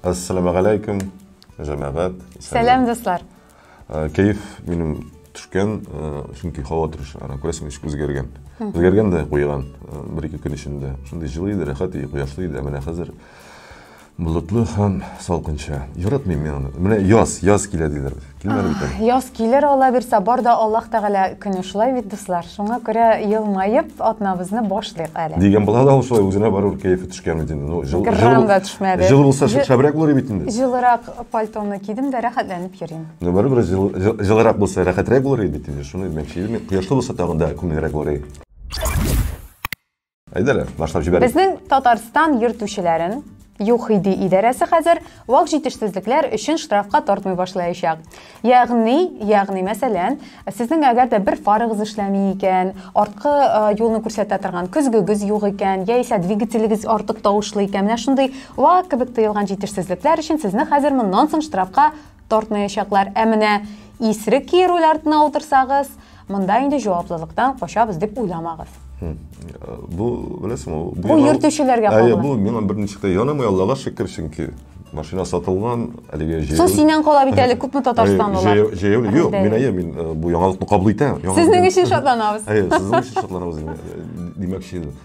Ассаламу алейкум, жамагат. Сәлам, дуслар. Э, Кайф минем төшкән, э, чөнки һава торыш, ана күрәсең, ничек үзгәргән. Үзгәргән дә куйган, э, бер-ике көн эчендә. Шундый җылы иде, рәхәт иде, кояшлы иде, ә менә хәзер Болытлы һәм салкынча. Яратмыйм мин аны. Менә яз, яз килә диләр бит. Килмәде бит әле. Яз килер ала бирсә, бар да Аллаһ Тәгалә көне шулай бит, дуслар. Шуңа күрә елмаеп атнабызны башлыйк әле. Дигән була да ул шулай үзенә барур кәефе төшкән бит инде. Ну, жыл, Грамм да төшмәде. Жыл булса Җы- шәбрәк булыр бит инде. Җылырак пальтоны кидем дә рәхәтләнеп йөрим. Ну, барыбер жыл- жыл- җылырак булса рәхәтрәк булыр иде бит инде. Шуны димәкче идем мин. Кояшлы булса тагын да күңеллерәк булыр иде. Әйдәле, башлап җибәрик. Безнең Татарстан йөртүчеләрен ЮХИДИ идарәсе хәзер вак җитешсезлекләр өчен штрафка тартмый башлаячак. Ягъни, ягъни мәсәлән, сезнең әгәр дә бер фарыгыз эшләми икән, арткы юлны күрсәтә торган көзгегез юк икән, яисә двигателегез артык тавышлы икән, менә шундый вак кебек тыелган җитешсезлекләр өчен сезне хәзер моннан соң штрафка Тартмаячаклар. Ә менә исрек ки руль артына утырсагыз, монда инде җаваплылыктан качабыз дип уйламагыз. Бу, беләсең, бу Бу йөртүчеләргә кагыла. Бу миңа берничә дә янамый, Аллага шөкер, чөнки машина сатылган, әлеге җәяү. Су синнән кала бит әле күпме Татарстанлылар. Җәяү, юк, мин әйе, мин бу яңалыкны кабул итәм. Сезнең өчен шатланабыз. Әйе, сезнең өчен шатланабыз димәкче идем.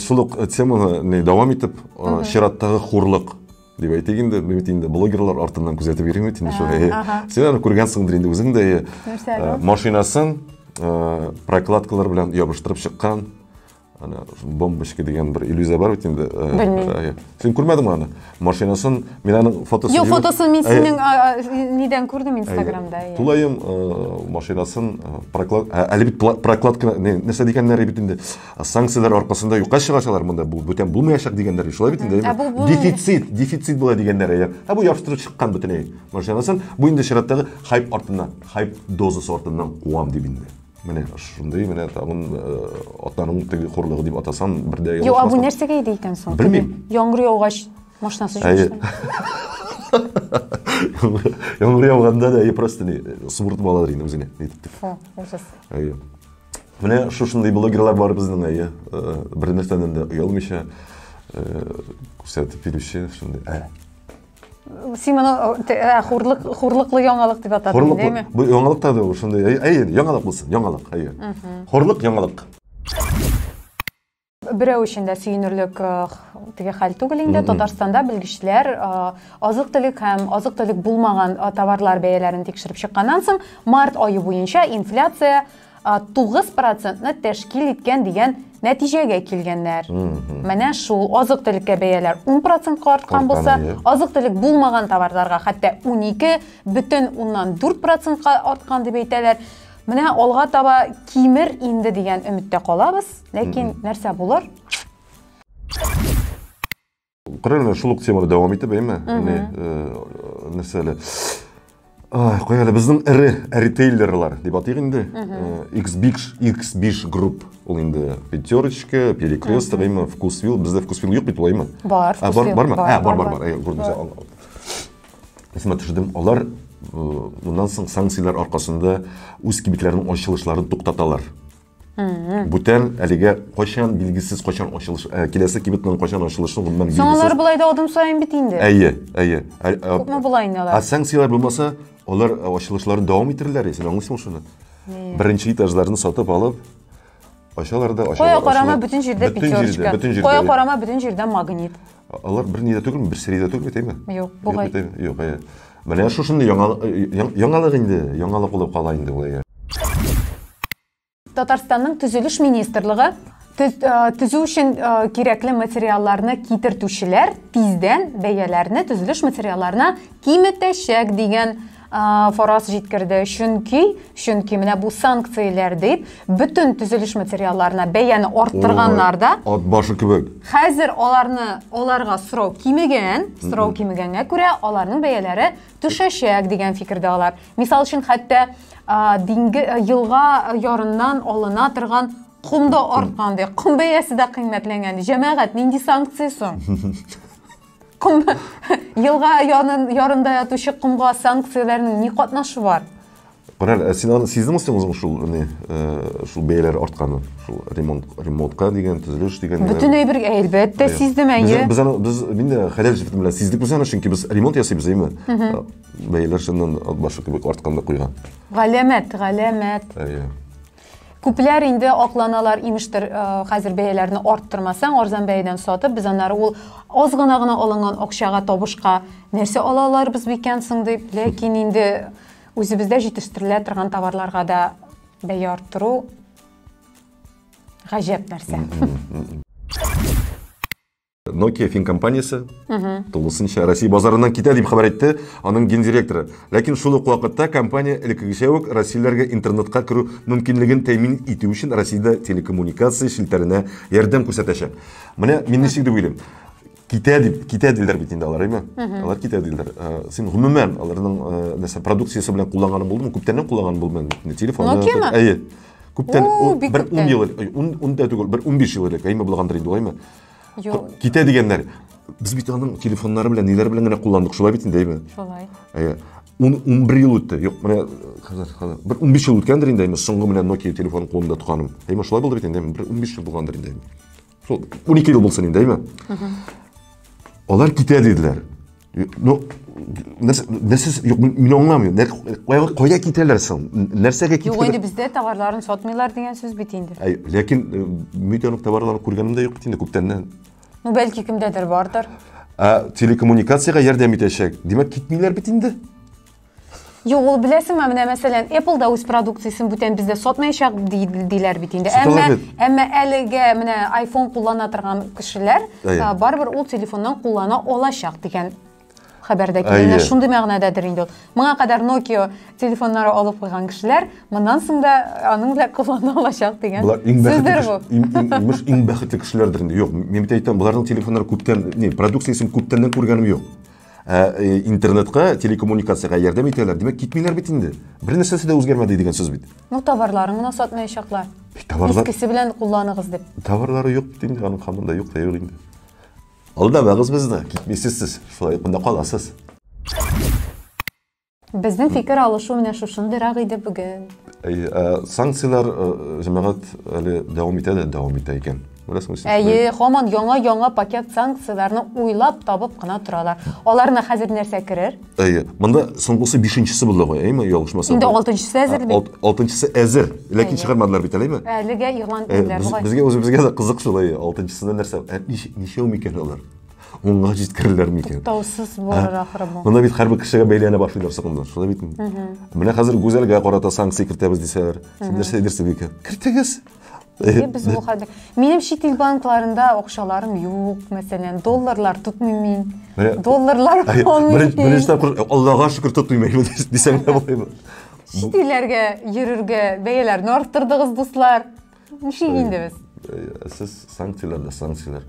Шул ук теманы дәвам итеп, чираттагы хурлык дип әйтик инде, бит инде блогерлар артыннан күзәтеп йөрим бит инде шул. Син аны күргәнсеңдер инде үзең дә. Машинасын прокладкалар белән ябыштырып чыккан. Ана бомбочка дигән бер иллюзия бар бит инде. Белмим. Син күрмәдеңме аны? Машинасын, мин аның фотосын Юк, фотосын мин синең нидән күрдем Инстаграмда. Тулаем машинасын проклад әле бит прокладка нәрсә дигәннәр бит инде. санкцияләр аркасында юкка чыгачалар монда бу бүтән булмаячак дигәннәр шулай бит инде дефицит дефицит була дигәннәр әйе ә бу ябыштырып чыккан бөтенләй машинасын бу инде чираттагы хайп артыннан хайп дозасы артыннан куам дип инде менә шундый менә тагын э, атаның теге хурлыгы дип атасам бердә юк а бу нәрсәгә иде икән соң белмим яңгыр яугач машинасы әйе яңгыр яуганда да просто не субыртып алалар инде үзеңә итеп ужас әйе Менә шушындый блогерлар бар безнең әйе. Э, бер нәрсәдән дә оялмыйча э, күрсәтеп бирүче шундый. Ә. Син моны э, хурлык хурлыклы яңалык дип атадың, дәйме? Бу яңалык та ул шундый. Әйе, яңалык булсын, яңалык, әйе. Хурлык яңалык. берәү өчен дә сөенерлек э, теге хәл түгел инде татарстанда белгечләр э, азык төлек һәм азык төлек булмаган э, товарлар бәяләрен тикшереп чыкканнан соң март ае буенча инфляция тугыз процентны тәшкил иткән дигән нәтиҗәгә килгәннәр менә шул азык төлеккә бәяләр ун процентка арткан булса азык төлек булмаган товарларга хәтта унике бөтен уннан дүрт процентка арткан дип әйтәләр Менә алга таба кимер инде дигән өметтә калабыз, ләкин нәрсә булыр? Кырын шул ук теманы дәвам итеп, әйме? Менә нәрсә әле? Куя әле безнең эре ритейлерлар дип атыйк инде. X-Big, X-Big Group ул инде пятерочка, перекресток, әйме, вкусвил, бездә вкусвил юк бит, әйме? Бар, вкусвил. Бар, бар, бар. Бар, бар, бар. Күрдегез, Исемә төшердем, алар э, моннан соң санкцияләр аркасында үз кибетләренең ачылышларын туктаталар. Бүтән әлегә кайчан билгесез кайчан ачылыш, ә, киләсе кибетнең кайчан ачылышы гомумән билгесез. Соң алар былай да адым саен бит инде. Әйе, әйе. Ә, ә, Күпме болай инде алар? Ә санкцияләр булмаса, алар ачылышларын дәвам иттерерләр, син аңлыйсыңмы шуны? Беренче этажларны сатып алып, Ачалар да, ачалар. Кая карама бөтен җирдә пятерочка. Кая карама бөтен җирдә магнит. Алар бер нидә түгел, бер средә түгел бит, әйме? Юк, бугай. Юк, әйе. Менә шушынды яңалык инде, яңалык булып кала инде ул әйе. Татарстанның төзелеш министрлыгы төзү өчен кирәкле материалларны китертүчеләр тиздән бәяләрне төзелеш материалларына киметәчәк дигән Фараз җиткерде, чөнки, чөнки менә бу санкцияләр дип бөтен төзелеш материалларына бәяне арттырганнар да. Ат башы кебек. Хәзер аларны аларга сорау кимегән, сорау кимегәнгә күрә аларның бәяләре төшәчәк дигән фикердә алар. Мисал өчен хәтта динге елга ярыннан алына торган ком да арткан ди, ком бәясе дә кыйммәтләнгән ди. Җәмәгать, нинди санкция соң? Ком елга янын ярында ятучы комга санкцияләрнең ни катнашы бар? Корал, ә син аны сиздеңме син үзең шул не э, шул бәяләр артканын? Шул ремонт ремонтка дигән, төзелеш дигән. Бөтен әйбер әлбәттә сиздем әйе. Без аны без мин дә хәләл җефет белән сиздек без аны, чөнки без ремонт ясыйбыз, әйме? Бәяләр шуннан башы кебек артканда куйган. Галәмәт, галәмәт. Әйе. Күпләр инде акланалар, имештер, э, хәзер бәяләрне арттырмасаң, арзан бәядән сатып, без аннары ул аз гына гына алынган акчага табышка нәрсә ала аларбыз бикән соң дип, ләкин инде үзебездә җитештерелә торган товарларга да бәя арттыру гаҗәп нәрсә. Nokia фин компаниясе тулысынча Россия базарыннан китә дип хәбәр итте аның гендиректоры. Ләкин шул ук вакытта компания элеккегечә үк россияләргә интернетка керү мөмкинлеген тәэмин итү өчен Россиядә телекоммуникация челтәренә ярдәм күрсәтәчәк. Менә мин ничек дип уйлыйм. Китә дип, китә диләр бит инде алар, әйме? Алар китә диләр. Э, син гомумән аларның э, нәрсә продукциясе белән кулланганың булдымы? Күптәннән кулланганың булдымы? Телефон. Nokia-мы? Әйе. Күптән, бер 10 ел, 10 да түгел, бер 15 ел элек, әйме булгандыр инде, әйме? Юк. Китә дигәннәр. Без бит аның телефоннары белән, ниләр белән генә кулландык, шулай бит инде, әйме? Шулай. Әйе. 11 ел үтте. Юк, менә хәзер, хәзер. Бер 15 ел үткәндер инде, әйме, соңгы менә Nokia телефон кулында тотканым. Әйме, шулай булды бит инде, бер 15 ел булгандыр инде. Шул 12 ел булсын инде, әйме? Алар китә диделәр. Ну, нәрсә, нәрсә, юк, мин аңламыйм. Нәр, кайга, кайда китәләр соң? Нәрсәгә китәләр? Юк, инде бездә товарларын сатмыйлар дигән сүз бит инде. Әй, ләкин э, митәнок товарларын күргәнем дә юк бит инде күптәннән. Ну, бәлки кемдәдер бардыр. Ә телекоммуникациягә ярдәм итәчәк. Димәк, китмиләр бит инде. Юк, ул беләсеңме, менә мәсәлән, Apple да үз продукциясен бүтән бездә сатмаячак диләр бит инде. Әмма әмма әлегә менә iPhone куллана торган кешеләр барыбер ул телефоннан куллана алачак дигән хәбәрдә килгән. Шундый мәгънәдәдер инде ул. Моңа кадәр Nokia телефоннары алып куйган кешеләр моннан соң да аның белән куллана алачак дигән. Булар иң бәхетле. Иң бәхетле кешеләрдер инде. Юк, мин бит әйтәм, буларның телефоннары күптән, продукциясен күптәннән күргәнем юк. Ә э, интернетка, телекоммуникациягә ярдәм итәләр. Димәк, китмиләр бит инде. Бер нәрсәсе дә үзгәрмәде дигән сүз бит. Ну, товарларын гына сатмаячаклар. Товарлар... Искесе белән кулланыгыз дип. Товарлары юк бит инде, аның хамында юк та юк инде. Алдамагыз безне, китмисез сез. Шулай кында каласыз. Безнең фикер алышу менә шушындыйрак иде бүген. Әйе, ә, санкцияләр ә, җәмәгать әле дәвам итә дә дәвам итә икән. Беләсеңме сез? Әйе, хаман яңа-яңа пакет санкцияләрне уйлап табып кына торалар. Аларына хәзер нәрсә керер? Әйе, монда соңгысы бишенчесе булды ғой, әйеме, ялгышмасам. Инде алтынчысы әзер бит. Алт, алтынчысы әзер, ләкин чыгармадылар бит әлеме? Әлегә игълан ителде. Безгә үзебезгә дә кызык шул, әйе, алтынчысында нәрсә? Ә ничәү микән алар? онга җиткерерләр микән туктаусыз булыр ахры бу монда бит һәрбер кешегә бәйләнә башлыйлар сакманнар шулай бит менә хәзер гүзәлгә карата санкция кертәбез дисәләр син нәрсә әйтерсең икән кертегез без бу хәлдә минем чит ил банкларында акчаларым юк мәсәлән долларлар тотмыйм мин долларлар беренче тапкыр аллага шөкер тотмыйм дисәң дә булаймы чит илләргә йөрергә бәяләрне арттырдыгыз дуслар ничек инде без сез санкцияләрдә санкцияләр